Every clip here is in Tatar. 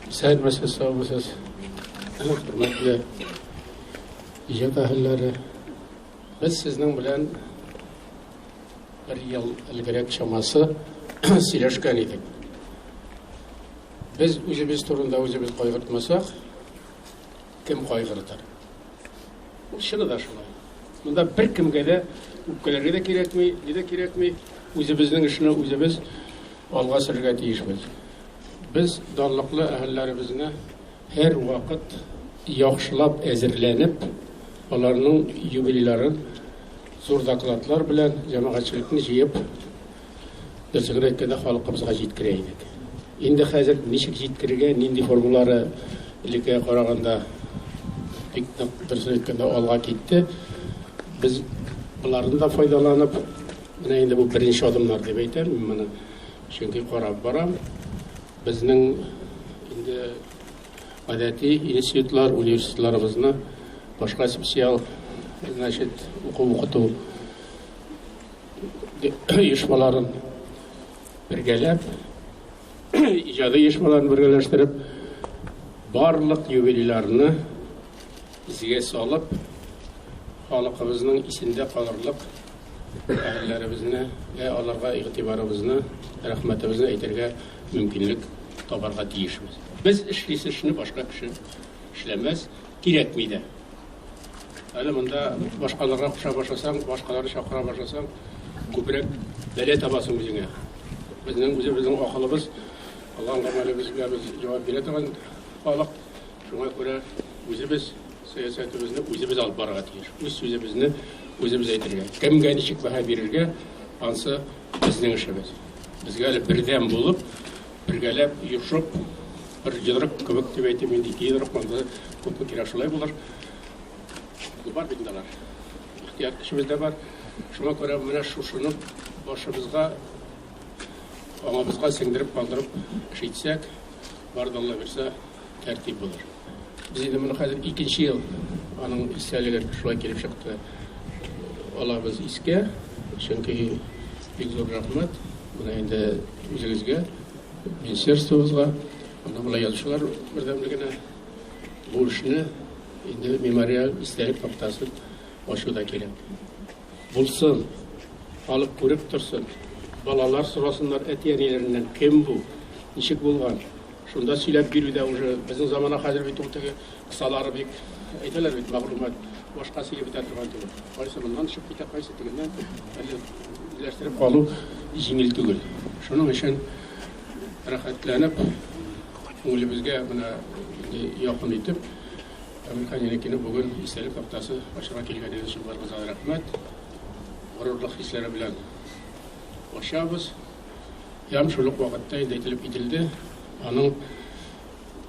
Сәлмәсез, саумысыз. Хөрмәтле иҗат әһелләре. Без сезнең белән бер ел элгерәк чамасы сөйләшкән идек. Без үзебез турында үзебез кайгыртмасак, кем кайгыртыр? Ул чыны да шулай. Монда бер кемгә дә үпкәләргә дә кирәкми, ни дә кирәкми. Үзебезнең эшне үзебез алга сөрергә тиешбез. Без данлыклы әһелләребезне һәрвакыт яхшылап әзерләнеп, аларның юбилейларын зур докладлар белән җәмәгатьчелекне җыеп, дөресен генә әйткәндә, халкыбызга җиткерә идек. Инде хәзер ничек җиткерергә, нинди формулары элеккегә караганда бик нык дөресен әйткәндә алга китте. Без болардан да файдаланып, менә инде бу беренче адымнар дип әйтәм мин моны. Чөнки карап барам, безнең инде гадәти институтлар, университетларыбызны башка специаль, значит, уку укыту оешмаларын бергәләп, иҗади оешмаларын бергәләштереп, барлык юбилейларны исегә салып, халыкыбызның исендә калырлык әһелләребезне дә аларга игътибарыбызны, рәхмәтебезне әйтергә мөмкинлек табарга тиешбез. Без эшлисе эшне башка кеше эшләмәс, кирәкми дә. Әле монда башкаларга куша башласаң, башкаларны чакыра башласаң, күбрәк бәлә табасың үзеңә. Безнең үзебезнең акылыбыз, кылган гамәлебезгә без җавап бирә торган халык. Шуңа күрә үзебез Сәясәтебезне үзебез алып барырга тиеш. Үз сүзебезне үзебез әйтергә. Кемгә ничек бәһа бирергә, ансы безнең эшебез. Безгә әле бердәм булып, бергәләп, йошып, бер йодрык кебек дип әйтим инде, ике йодрык монда күпме кирәк шулай булыр. Бар бит инде алар. Ихтыяр көчебез дә бар. Шуңа күрә менә шушыны башыбызга, аңабызга сеңдереп калдырып эш итсәк, Бар да Алла бирсә, тәртип булыр. Без инде моны хәзер икенче ел аның истәлеге шулай килеп чыкты. Алабыз искә, чөнки бик зур рәхмәт менә инде үзегезгә, министерствобызга, аны болай язучылар бердәмлегенә бу эшне инде мемориаль истәлек тактасын ачу да кирәк. Булсын, халык күреп торсын, балалар сорасыннар әти-әниләреннән, кем бу, ничек булган. Шунда сөйләп бирүдә уже безнең замана хәзер бит ул теге кысалары бик әйтәләр бит мәгълүмат башка сөйләп бетә торган түгел. Кайсы моннан чыгып китә, кайсы тегеннән әле үзләштереп калу җиңел түгел. Шуның өчен рәхәтләнеп күңелебезгә менә якын итеп Американ Еникине бүген истәлек тактасы ачарга килгәнегез өчен барыгызга да рәхмәт. Горурлык хисләре белән ачабыз. Ям шул ук вакытта инде әйтелеп кителде. Аның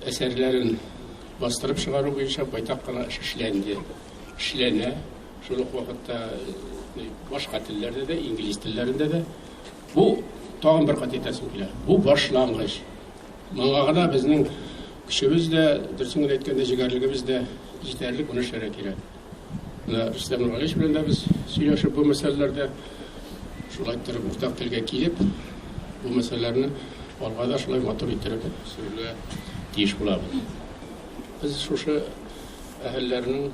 әсәрләрен бастырып чыгару буенча байтак кына эш эшләнде. Эшләнә. Шул ук вакытта э, башка телләрдә дә, инглиз телләрендә дә Бу, тагын бер кат әйтәсем килә, бу башлангыч. Моңа гына безнең көчебез дә, дөресен генә әйткәндә, җегәрлегебез дә җитәрлек, моны эшләргә кирәк. Менә Рөстәм Нургалиевич белән дә без сөйләшеп бу мәсьәләләрдә шулай торып уртак телгә килеп, бу мәсьәләләрне алга да шулай матур иттереп сөрергә тиеш булабыз. Без шушы әһелләрнең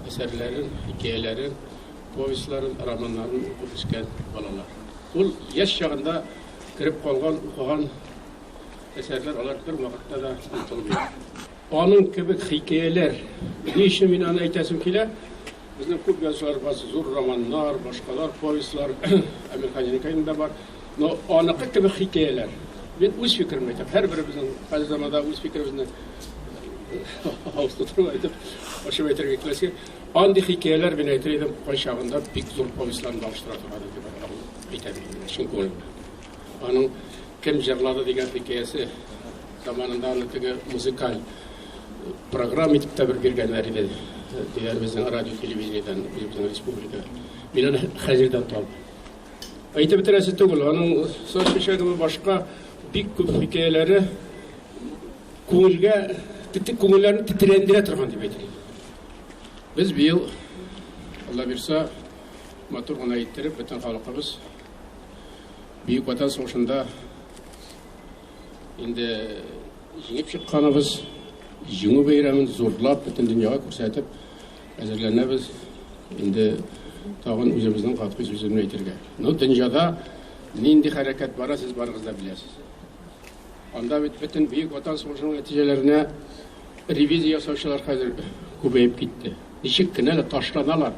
әсәрләрен, хикәяләрен Повестьларын, романнарын укып үскән балалар. Ул яшь чагында кереп калган, укыган әсәрләр, алар бервакытта да онытылмый. Аның кебек хикәяләр, ни өчен мин аны әйтәсем килә, безнең күп язучыларыбыз зур романнар, башкалар, повестьлар, Әмирханиныкайның да бар, но аныкы кебек хикәяләр. Мин үз фикеремне әйтәм, һәрберебезнең хәзер заманда үз фикеребезне авыз тутырып әйтеп, ачып әйтергә киләсе. Андый хикәяләр белән әйтер идем, кайчагында бик зур повестьларны алыштыра торган иде бер авыл әйтәм инде, чын күңелемнән. Аның кем җырлады дигән хикәясе заманында аны теге музыкаль программа итеп тә бер биргәннәр иде. Дигән безнең радио телевидениедән үзебезнең республика. Мин аны хәзердән табам. Әйтеп бетерәсе түгел, аның саз чәчәге башка бик күп хикәяләре Күңелгә, тетек күңелләрне тетрәндерә торган дип әйтелә. Без быел, Алла бирса, матур гына иттереп, бөтен халкыбыз Бөек Ватан сугышында инде җиңеп чыкканыбыз, җиңү бәйрәмен зурлап бөтен дөньяга күрсәтеп әзерләнәбез. Инде тагын үзебезнең катгый сүземне әйтергә. Ну, дөньяда нинди хәрәкәт бара, сез барыгыз да беләсез. Анда бит бөтен Бөек Ватан сугышының нәтиҗәләренә ревизия ясаучылар хәзер күбәеп китте. Ничек кенә дә ташланалар.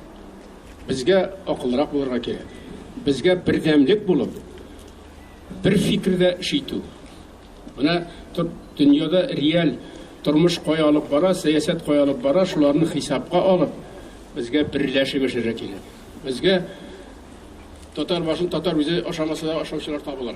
Безгә акыллырак булырга кирәк. Безгә бердәмлек булып, бер фикердә эш итү. Менә дөньяда реаль тормыш кая алып бара, сәясәт кая алып бара, шуларны хисапка алып, безгә берләшеп эшләргә кирәк. Безгә татар башын татар үзе ашамаса да ашаучылар табылыр.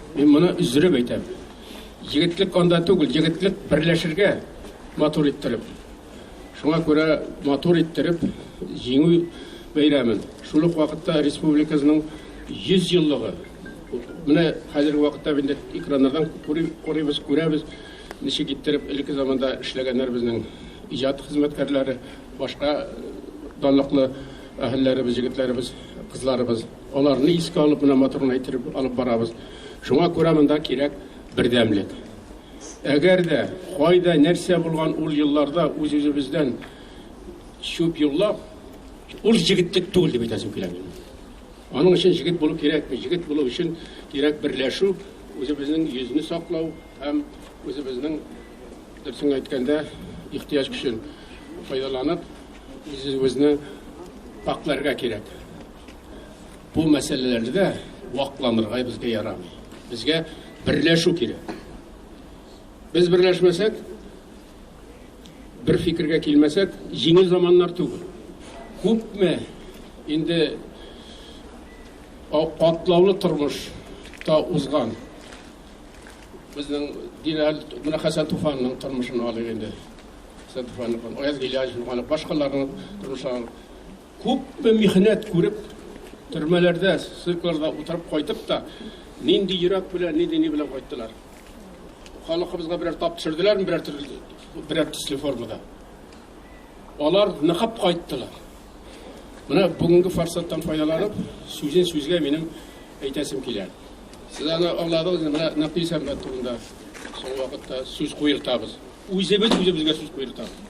Мин моны өздереп әйтәм. Егетлек анда түгел, егетлек берләшергә матур иттереп. Шуңа күрә матур иттереп җиңү бәйрәмен. Шул ук вакытта республикасының 100 еллыгы. Менә хәзерге вакытта инде экраннардан күрибез, күрәбез, ничек иттереп элекке заманда эшләгәннәр безнең иҗат хезмәткәрләре, башка данлыклы әһелләребез, егетләребез, кызларыбыз. Аларны искә алып, менә моторны әйттереп алып барабыз. Шуңа күрә монда кирәк бердәмлек. Әгәр дә кайда нәрсә булган ул елларда үз-үзебездән чүп юллап, ул җегетлек түгел дип әйтәсем килә минем. Аның өчен җегет булу кирәкми. Җегет булу өчен кирәк берләшү, үзебезнең йөзне саклау һәм үзебезнең дөресен әйткәндә ихтыяҗ көчен файдаланып, үзебезне пакьләргә кирәк. Бу мәсьәләләрдә дә вакланырга безгә ярамый. Безгә берләшү кирәк. Без берләшмәсәк, бер фикергә килмәсәк, җиңел заманнар түгел. Күпме инде катлаулы тормышта узган безнең Динәл менә Хәсән Туфанның тормышын алыйк инде. Хәсән Туфанның, Аяз Гыйләҗев, башкаларның тормышларын Күпме михнәт күреп, төрмәләрдә, ссылкаларда утырып кайтып та, нинди йөрәк белән, нинди ни белән кайттылар. Халыкыбызга берәр тап төшерделәрме, берәр төрле, берәр төсле формада. Алар ныгып кайттылар. Менә бүгенге форсаттан файдаланып, сүзен сүзгә минем әйтәсем килә. Сез аны аңладыгыз, менә Нәпис Әхмәт турында соң вакытта сүз куертабыз. Үзебез үзебезгә сүз куертабыз.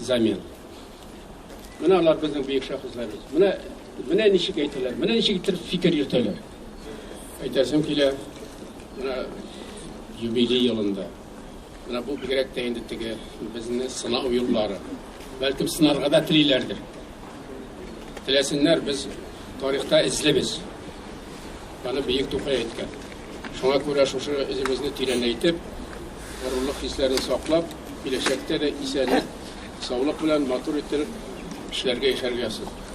замен. Менә алар безнең бөек шәхесләребез. Менә менә ничек әйтәләр, менә ничек итеп фикер йөртәләр. Әйтәсем килә, менә юбилей елында. Менә бу бигрәк тә инде теге безне сынау юллары. Бәлкем сынарга да телиләрдер. Теләсеннәр, без тарихта эзлебез. Аны бөек Тукай әйткән. Шуңа күрә шушы эзебезне тирәнәйтеп, Горурлык хисләрен саклап, киләчәктә дә исәнлек, саулык белән матур иттереп эшләргә, яшәргә язсын.